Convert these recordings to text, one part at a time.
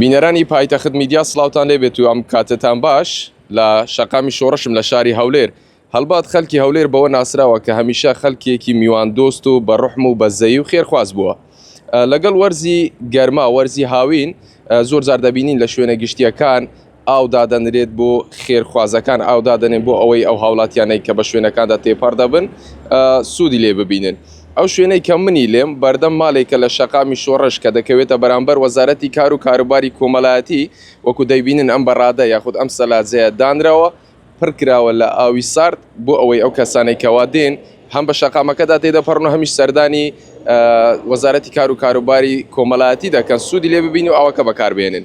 بینەران ی پایتەخت میدیا سڵاوتان لێ بێت و ئەم کاتەتان باش لە شەقامی شۆڕشم لە شاری هەولێر هەڵبەت خەلکی هەولێر بەوە ناسراوە کە هەمیشە خەلکیێکی میوان دۆست و بە روحم و بە زەی و خێرخواز بووە لەگەڵ وەرزی گەرما وەرزی هاوین زۆر جار دەبینین لە شوێنە گشتیەکان ئاو دادەنرێت بۆ خێرخوازەکان ئاو دادەنێن بۆ ئەوەی ئەو هاولاتیانەی کە بە شوێنەکاندا تێپەڕ دەبن سوودی لێ ببینن ئەو شوێنەی کە منی لێم، بەردەم مالێکە لە شەقامی شۆڕش کە دەکەوێتە بەرامبەر وەزارەتی کار و کاروباری کۆمەلایەتی، وەکو دەیبینن ئەم بەرادە یاخود ئەم سەلاجەیە دانراوە، پڕ کراوە لە ئاوی سارد بۆ ئەوەی ئەو کەسانەی کە وا دێن هەم بە شەقامەکەدا تێدەپەڕن و هەمیش سەردانی وەزارەتی کار و کاروباری کۆمەلایەتی دەکەن سودی لێ ببین و ئاوەکە بەکار بهێنن.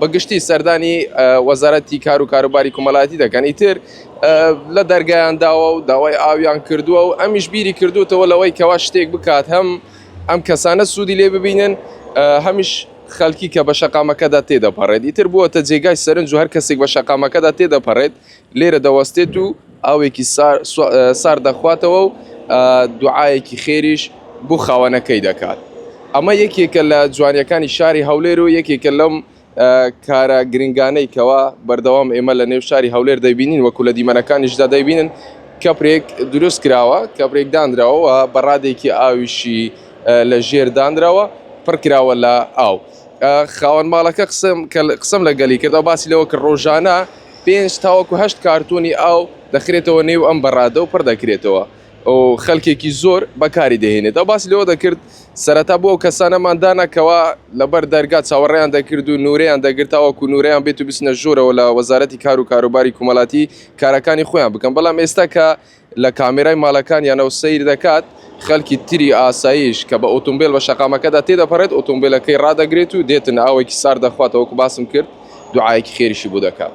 بە گشتی سەردانی وەزارەتی کار و کاروباری کومەلایەتی دەکەن ئیتر لە دەرگایان داوە و داوای ئاویان کردووە و ئەمیش بیری کردوتەوە لەوەی کەوا شتێک بکات هەم ئەم کەسانە سوودی لێ ببینن هەمیش خەلکی کە بە شەقامەکەدا تێدەپەڕێت ئیتر بووەتە جێگای سەرنج و هەر کەسێک بە شەقامەکەدا تێدەپەڕێت لێرە دەوەستێت و ئاوێکی سارد دەخواتەوە و دوعاەکی خێریش بۆ خاوەنەکەی دەکات ئەمە یەکێکە لە جوانیەکانی شاری هەولێر و یەکێکە لەم کارە گرنگانەی کەوا بەردەوام ئێمە لە نێو شاری هەولێر دەبینین وەکو لە دیمەنەکانیشدا دەبینن کەپرێک دروست کراوە کەپرێک دانراوەوە بەڕادێکی ئاویشی لە ژێر دانراوە پڕکراوە لە ئاو خاوەن ماڵەکە قسم قسم لە گەلی کردەوە باسی لەوە کە ڕۆژانە پێنج تاوەکو هەشت کارتۆنی ئاو دەخرێتەوە نێو ئەم بەرادە و پڕدەکرێتەوە و خەلکێکی زۆر بەکاری دەهێنێت ئەو باس لەوە دەکرد سەرەتا بۆ ئەو کەسانەمان دانەکەوە لەبەر دەرگا چاوەڕێیان دەکرد و نورەیان دەگرت تاوەکو نورەیان بێت و بچنە ژوورەوە لە وەزارەتی کار و کاروباری کومەلاتی کارەکانی خۆیان بکەن بەڵام ئێستا کە لە کامێرای ماڵەکانیانەوە سەیر دەکات، خەڵکی تری ئاساییش کە بە ئۆتۆمبێل بە شەقامەکەدا تێدەپەڕێت، ئۆتۆمبێلەکەی ڕادەگرێت و دێتن، ئاوێکی سارد دەخواتەوە، وەکو باسم کرد دوعایەکی خێریشی بۆ دەکات.